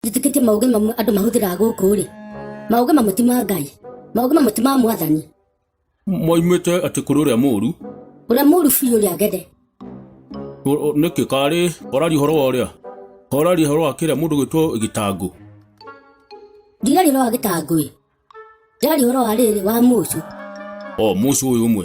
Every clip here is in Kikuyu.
njĩtĩkĩtie maũgĩ mamwe andũ mahũthĩraga gũkũ rĩ maũgĩ mamwe ti ma ngai maũgĩ mamwe ti ma mwathani moimĩte atĩ kũrĩ ũrĩa mũũru ũrĩa mũru biũ ũrĩa ngende O- o- nĩkĩ karĩ oraria ũhoro wa ũrĩa oraria ũhoro wa kĩrĩa mũndũ gwĩtwo gĩtangũ ndirari ũhoro wa gĩtangũĩ ndirari ũhoro wa rĩrĩ wa mũcũ o mũcũ ũyũ ũmwe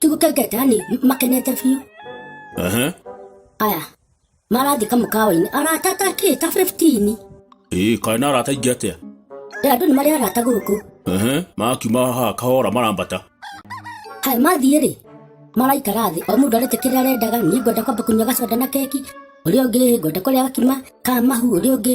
Tigu ka gate ani makenete fiyo. Aha. Aya. Marathi ka mukawa-inĩ arata ta kĩ ta 15 Ĩĩ, kaĩ na arata aingĩ atĩa? rĩa andũ nĩ marĩ arata gũkũ Aha. Makiuma haha kahora marambata. aya mathiĩ rĩ maraikara thĩ o mũndũ arĩte kĩrĩa arendaga niĩ ngwenda kwamba kũnyua gacoda na keki ũrĩa ũngĩ ngwenda kũrĩa gakima ka mahu ũrĩa ũngĩ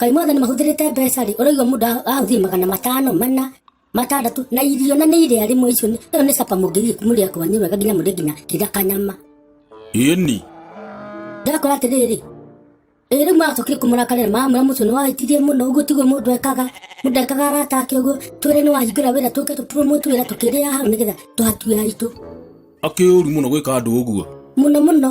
Kaĩ mothe nĩ mahũthĩrĩte mbeca rĩ, ũraigua mũndũ ahũthĩri magana matano mana matandatũ na irio na nĩ irĩa rĩmwe icio nĩ ĩyo nĩ capa mũngĩthiĩ mũrĩa kwanyu wega nginya mũrĩa nginya kĩrĩa kanyama ĩni ndakora atĩrĩrĩ ĩĩ rĩu macokire kũmũrakarĩra mamwĩra mũcio nĩ wahĩtirie mũno ũguo tiguo mũndũ ekaga mũndũ ekaga arata ake ũguo twĩre nĩ wahingũra wĩra tũke tũpromote wĩra tũkĩrĩa hau nĩgetha tũhatue aitũ akĩũru mũno gwĩka andũ ũguo mũno mũno